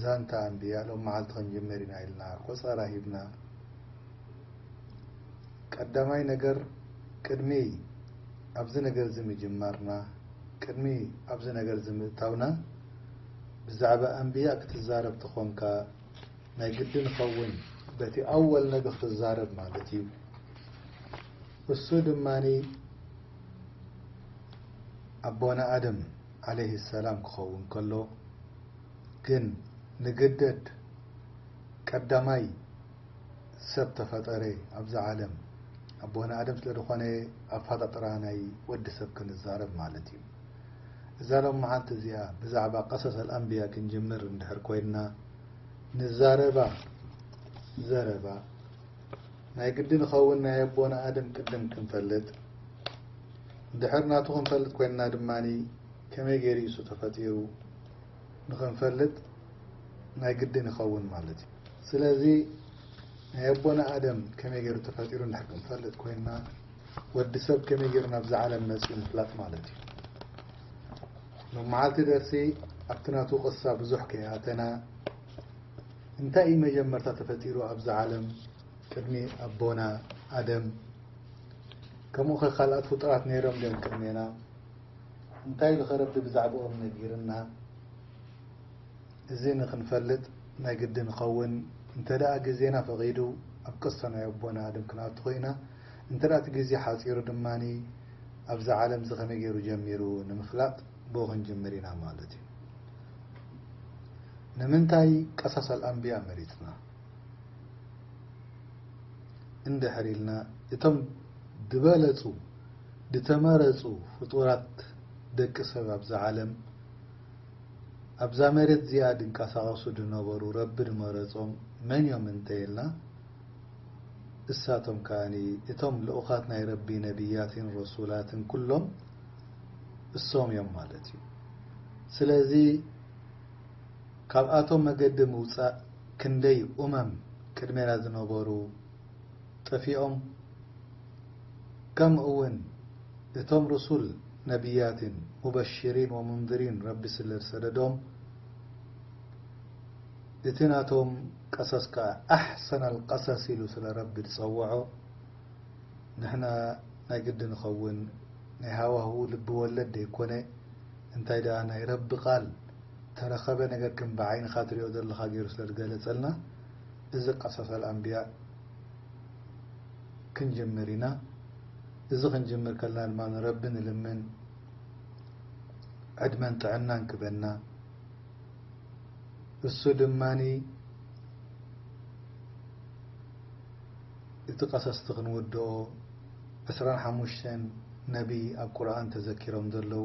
ዛንታ ኣንብያ ሎም መዓልቲ ክንጅምር ኢና ኢልና ቆጸራ ሂብና ቀዳማይ ነገር ቅድሚ ኣብዚ ነገር እዚ ምጅማርና ቅድሚ ኣብዚ ነገር እዚ ምእታውና ብዛዕባ ኣንብያ ክትዛረብ ተኾንካ ናይ ግድን ይኸውን በቲ ኣወል ነቢ ክትዛረብ ማለት እዩ እሱ ድማ ኣቦና ኣደም ዓለይሂ ሰላም ክኸውን ከሎ ግን ንግደድ ቀዳማይ ሰብ ተፈጠረ ኣብዛ ዓለም ኣቦና ኣደም ስለ ዝኾነ ኣፋጣጥራ ናይ ወዲ ሰብ ክንዛረብ ማለት እዩ እዛ ሎም መዓልቲ እዚኣ ብዛዕባ ቀሰሰል ኣንብያ ክንጅምር እንድሕር ኮይንና ንዛረባ ዘረባ ናይ ግድን ኸውን ናይ ኣቦና ኣደም ቅድም ክንፈልጥ ድሕር ናቱ ክንፈልጥ ኮይንና ድማ ከመይ ገይሩ ኢሱ ተፈጢሩ ንክንፈልጥ ናይ ግድን ይኸውን ማለት እዩ። ስለዚ ናይ ኣቦና ኣደም ከመይ ገይሩ ተፈጢሩ እንድሕር ክንፈልጥ ኮይንና ወዲ ሰብ ከመይ ገይሩ ናብዛ ዓለም መፅኡ ምፍላጥ ማለት እዩ። ሎም መዓልቲ ደርሲ ኣብቲ ናቱ ቅሳ ብዙሕ ከይኣተና እንታይ እዩ መጀመርታ ተፈጢሩ ኣብዛ ዓለም ቅድሚ ኣቦና ኣደም ከሙኸ ካልኣት ፍጡራት ነይሮም ድዮም ቅድሜና እንታይ ኢሉ ከረቢ ብዛዕብኦም ነጊርና እዚ ንክንፈልጥ ናይ ግድን ይኸውን እንተ ግዜና ፈቂዱ ኣብ ቅሶ ናይ ኣቦና ኣድም ክንኣቱ ኮይና እንተ እቲ ግዜ ሓጺሩ ድማ ኣብዛ ዓለም እዚ ከመይ ገይሩ ጀሚሩ ንምፍላጥ ብኡ ክንጅምር ኢና ማለት እዩ ንምንታይ ቀሰሰል ኣንብያ መሪጽና እንድሕር ኢልና እቶም ድበለጹ ድተመረጹ ፍጡራት ደቂ ሰብ ኣብዛ ዓለም ኣብዛ መሬት እዚኣ ድንቀሳቀሱ ድነበሩ ረቢ ድመረጾም መን እዮም እንተ ኢልና እሳቶም ከኣ እቶም ልኡኻት ናይ ረቢ ነብያትን ረሱላትን ኩሎም እሶም እዮም ማለት እዩ ስለዚ ካብኣቶም መገዲ ምውጻእ ክንደይ ኡመም ቅድሜና ዝነበሩ ጠፊኦም ከምእ ውን እቶም ሩሱል ነብያትን ሙበሽሪን ወሙንዝሪን ረቢ ስለ ዝሰደዶም እቲ ናቶም ቀሰስ ከኣ ኣሕሰነል ቀሰስ ኢሉ ስለ ረቢ ዝጸወዖ ንሕና ናይ ግዲ ንኸውን ናይ ሃዋሁ ልቢ ወለድ ደይኮነ እንታይ ደኣ ናይ ረቢ ቃል ተረከበ ነገር ከም ብዓይንካ ትሪኦ ዘለካ ገሩ ስለ ዝገለጸልና እዚ ቀሰሰል ኣንብያ ክንጅምር ኢና እዚ ክንጅምር ከለና ድማ ንረቢ ንልምን ዕድመን ጥዕናን ክበና እሱ ድማ እቲ ቀሰስቲ ክንውድኦ ዕስራን ሓሙሽተን ነቢ ኣብ ቁርን ተዘኪሮም ዘለዉ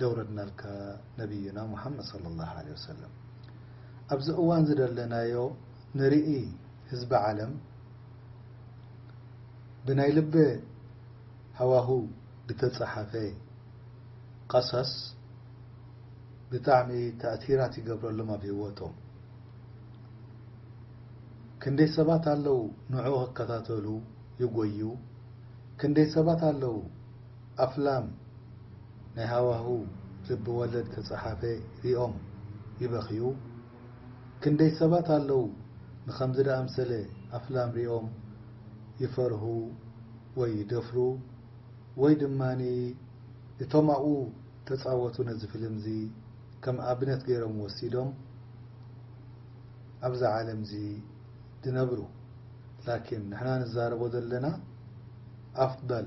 ደውረድናልካ ነብዩና ሙሓመድ ሰለላሁ ዓለይሂ ወሰለም። ኣብዚ እዋን እዚ ደለናዮ ንርኢ ህዝቢ ዓለም ብናይ ልበ ሃዋሁ ድተጻሓፈ ቐሰስ ብጣዕሚ ታእቲራት ይገብረሎም ኣብ ሂወቶም ክንደይ ሰባት ኣለው ንዑኡ ክከታተሉ ይጎዩ ክንደይ ሰባት ኣለው ኣፍላም ናይ ሃዋሁ ልቢ ወለድ ተጻሓፈ ሪኦም ይበኽዩ ክንደይ ሰባት ኣለው ንኸምዚ ድኣምሰለ ኣፍላም ሪኦም ይፈርሁ ወይ ይደፍሩ ወይ ድማ እቶም ኣብኡ ተጻወቱ ነዚ ፍልምዚ ከም ኣብነት ገይሮም ወሲዶም ኣብዛ ዓለምዚ ድነብሩ ላኪን ንሕና ንዛረቦ ዘለና ኣፍበል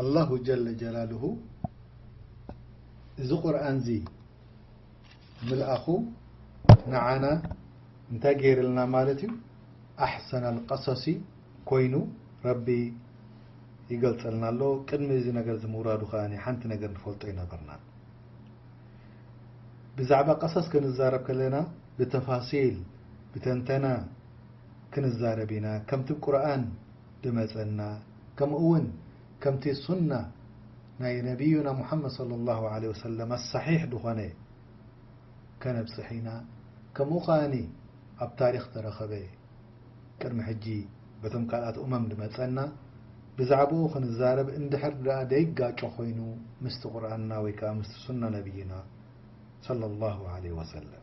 ኣላሁ ጀለ ጀላሉሁ እዚ ቁርኣንዚ ምልኣኹ ንዓና እንታይ ገይርልና ማለት እዩ? ኣሕሰነል ቀሰሲ ኮይኑ ረቢ ይገልጸልና ኣሎ። ቅድሚ እዚ ነገርዚ ምውራዱ ከኣ ሓንቲ ነገር ንፈልጦ ኣይነበርናን። ብዛዕባ ቀሰስ ክንዛረብ ከለና ብተፋሲል ብተንተና ክንዛረብ ኢና ከምቲ ቁርኣን ድመጸና ከምኡውን ከምቲ ሱና ናይ ነብዩና ሙሓመድ ሰለላሁ ዓለይሂ ወሰለም ኣሳሒሕ ድኾነ ከነብጽሕ ኢና ከምኡ ከኣ ኣብ ታሪኽ ተረኸበ ቅድሚ ሕጂ በቶም ካልኣት ኡመም ድመጸና ብዛዕባኡ ክንዛረብ እንድሕር ድኣ ደይጋጮ ኮይኑ ምስቲ ቁርኣንና ወይ ከኣ ምስቲ ሱና ነብዩና ሰለላሁ ዓለይሂ ወሰለም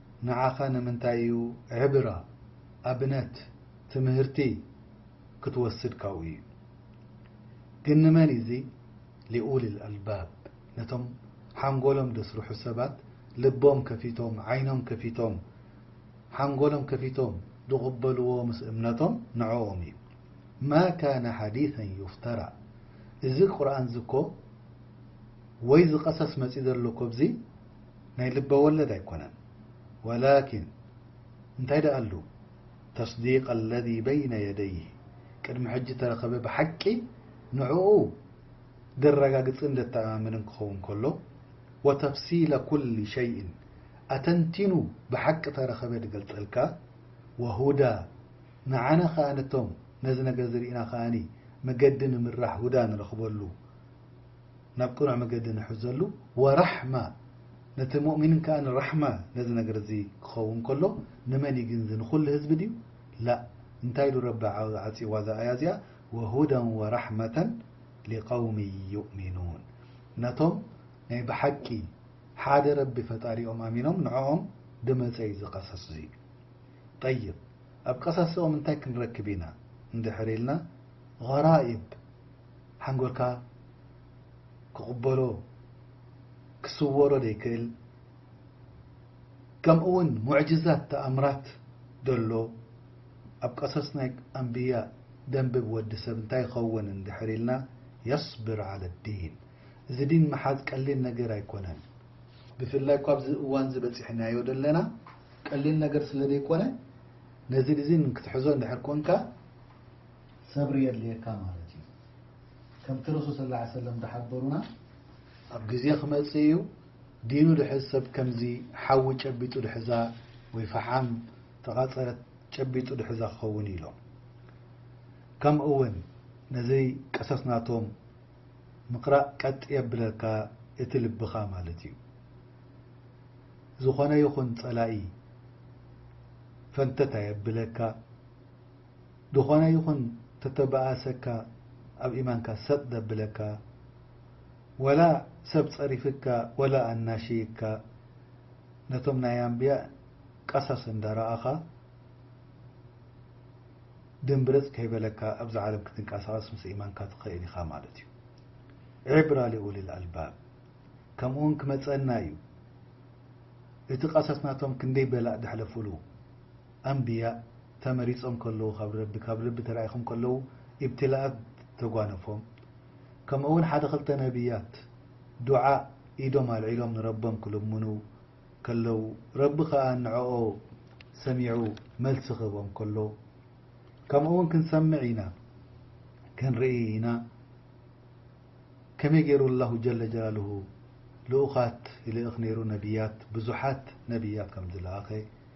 ንዓኻ ንምንታይ እዩ ዕብራ ኣብነት ትምህርቲ ክትወስድ ካብኡ እዩ ግን ንመን እዚ ሊኡል ኣልባብ ነቶም ሓንጎሎም ደስርሑ ሰባት ልቦም ከፊቶም ዓይኖም ከፊቶም ሓንጎሎም ከፊቶም ድቕበልዎ ምስ እምነቶም ንዕኦም እዩ ማ ካነ ሓዲሰን ዩፍተራ እዚ ቁርኣን እዚ እኮ ወይ ዝቐሰስ መጽዩ ዘሎ እኮ ኣብዚ ናይ ልበወለድ ኣይኮነን ወላኪን እንታይ ደኣሉ ተስዲቅ ኣለዚ በይነ የደይህ ቅድሚ ሕጂ ተረከበ ብሓቂ ንዕኡ ደረጋግጽን ደተኣማምንን ክኸውን ከሎ ወተፍሲለ ኩሊ ሸይእን ኣተንቲኑ ብሓቂ ተረከበ ድገልጸልካ ወሁዳ ንዓና ከኣ ነቶም ነዚ ነገር እዚ ርኢና ከኣ መገዲ ንምራሕ ሁዳ ንረክበሉ ናብ ቅኑዕ መገዲ ንሕዘሉ ወራሕማ ነቲ ሙእሚንን ከኣ ንራሕማ ነዚ ነገር እዚ ክኸውን ከሎ ንመን እዩ ግን እዚ ንኹሉ ህዝቢ ድዩ ላእ እንታይ ኢሉ ረቢ ዓጽይዋ እዛ ኣያ እዚኣ ወሁደን ወራሕመተን ሊቀውሚ ዩእሚኑን ነቶም ናይ ብሓቂ ሓደ ረቢ ፈጣሪኦም ኣሚኖም ንዖኦም ድመጸ እዩ እዚ ቀሰስ እዙይ ጠይብ ኣብ ቀሰስኦም እንታይ ክንረክብ ኢና እንድሕር ኢልና غራኢብ ሓንጎልካ ክቕበሎ ክስወሮ ዘይክእል ከምኡ ውን ሙዕጅዛት ተኣምራት ደሎ ኣብ ቀሶስ ናይ ኣንብያ ደንብብ ወዲ ሰብ እንታይ ይኸውን እንድሕር ኢልና የስብር ዓለ ዲን እዚ ዲን ምሓዝ ቀሊል ነገር ኣይኮነን ብፍላይ እኳ ኣብዚ እዋን እዚ በጺሕናዮ ደለና ቀሊል ነገር ስለ ዘይኮነ ነዚ ዲን ክትሕዞ እንድሕር ኮንካ ሰብሪ የድልየካ ማለት እዩ ከምቲ ረሱል ስለ ላ ሰለም ዝሓበሩና ኣብ ግዜ ክመፅእ እዩ ዲኑ ድሕዝ ሰብ ከምዚ ሓዊ ጨቢጡ ድሕዛ ወይ ፈሓም ተቓፀለት ጨቢጡ ድሕዛ ክኸውን እዩ ኢሎም ከምኡ እውን ነዚ ቀሰስ ናቶም ምቅራእ ቀጥ የብለካ እቲ ልብኻ ማለት እዩ ዝኾነ ይኹን ፀላኢ ፈንተት ኣየብለካ ድኾነ ይኹን ተተባኣሰካ ኣብ ኢማንካ ሰጥ ደብለካ ወላ ሰብ ጸሪፍካ ወላ ኣናሽይካ ነቶም ናይ ኣንብያ ቀሳስ እንዳራኣኻ ድምብርጽ ከይበለካ ኣብዛ ዓለም ክትንቃሳቀስ ምስ ኢማንካ ትኽእል ኢኻ ማለት እዩ ዒብራ ሊኡሊል ኣልባብ ከምኡውን ክመጸና እዩ እቲ ቀሳስ ናቶም ክንደይ በላእ ደሕለፉሉ ኣንብያእ ተመሪጾም ከለዉ ካብ ረቢ ካብ ልቢ ተራኢኹም ከለዉ ኢብትላኣት ተጓነፎም ከምእውን ሓደ ክልተ ነብያት ዱዓእ ኢዶም ኣልዒሎም ንረቦም ክልምኑ ከለዉ ረቢ ከኣ ንዕኦ ሰሚዑ መልሲ ክህቦም ከሎ ከምእውን ክንሰምዕ ኢና ክንርኢ ኢና ከመይ ገይሩ ኣላሁ ጀለ ጀላሉሁ ልኡኻት ይልእኽ ነይሩ ነብያት ብዙሓት ነብያት ከምዝለኣኸ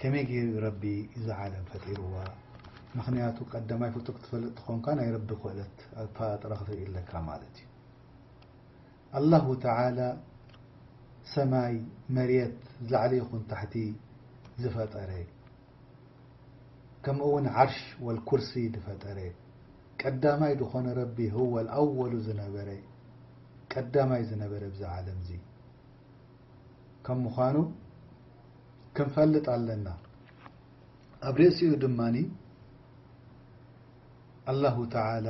ከመይ ጌሩ እዩ ረቢ እዛ ዓለም ፈጢርዋ ምኽንያቱ ቀዳማይ ፍጡር ክትፈልጥ ተኾንካ ናይ ረቢ ክእለት ኣፈጣጥራ ክትርኢ ኣለካ ማለት እዩ ኣላሁ ተዓላ ሰማይ መሬት ላዕሊ ይኹን ታሕቲ ዝፈጠረ ከምኡ ውን ዓርሽ ወልኩርሲ ዝፈጠረ ቀዳማይ ዝኾነ ረቢ ህወል ኣወሉ ዝነበረ ቀዳማይ ዝነበረ ብዛ ዓለም እዚ ከም ምዃኑ ክንፈልጥ ኣለና። ኣብ ርእሲኡ ድማ ኣላሁ ተዓላ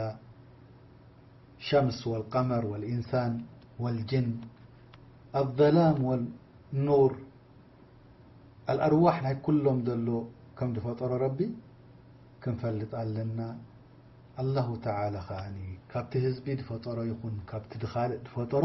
ሸምስ ወልቀመር ወልኢንሳን ወልጅን ኣዘላም ወኑር ኣልኣርዋሕ ናይ ኩሎም ዘሎ ከም ዝፈጠሮ ረቢ ክንፈልጥ ኣለና። ኣላሁ ተዓላ ከኣ ካብቲ ህዝቢ ዝፈጠሮ ይኹን ካብቲ ድኻልእ ዝፈጠሮ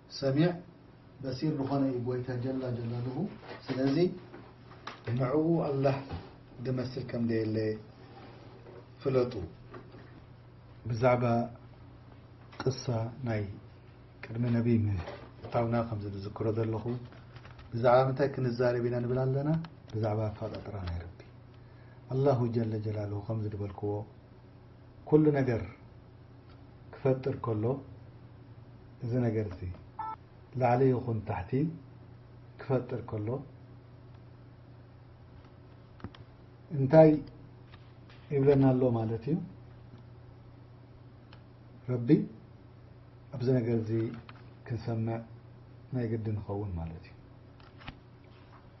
ሰሚዕ በሲር ልኾነ እዩ ጎይታ ጀላ ጀላሉሁ ስለዚ ንዕኡ ኣላህ ድመስል ከም ደየለ ፍለጡ። ብዛዕባ ቅሳ ናይ ቅድሚ ነቢ ምእታውና ከምዚ ድዝክሮ ዘለኹ ብዛዕባ ምንታይ ክንዛረብ ኢና ንብል ኣለና ብዛዕባ ኣፋጣጥራ ናይ ረቢ ኣላሁ ጀለ ጀላሉሁ ከምዚ ድበልክዎ ኩሉ ነገር ክፈጥር ከሎ እዚ ነገር እዚ ላዕሊ ይኹን ታሕቲ ክፈጥር ከሎ እንታይ ይብለና ኣሎ ማለት እዩ ረቢ ኣብዚ ነገር እዚ ክንሰምዕ ናይ ግዲ ንኸውን ማለት እዩ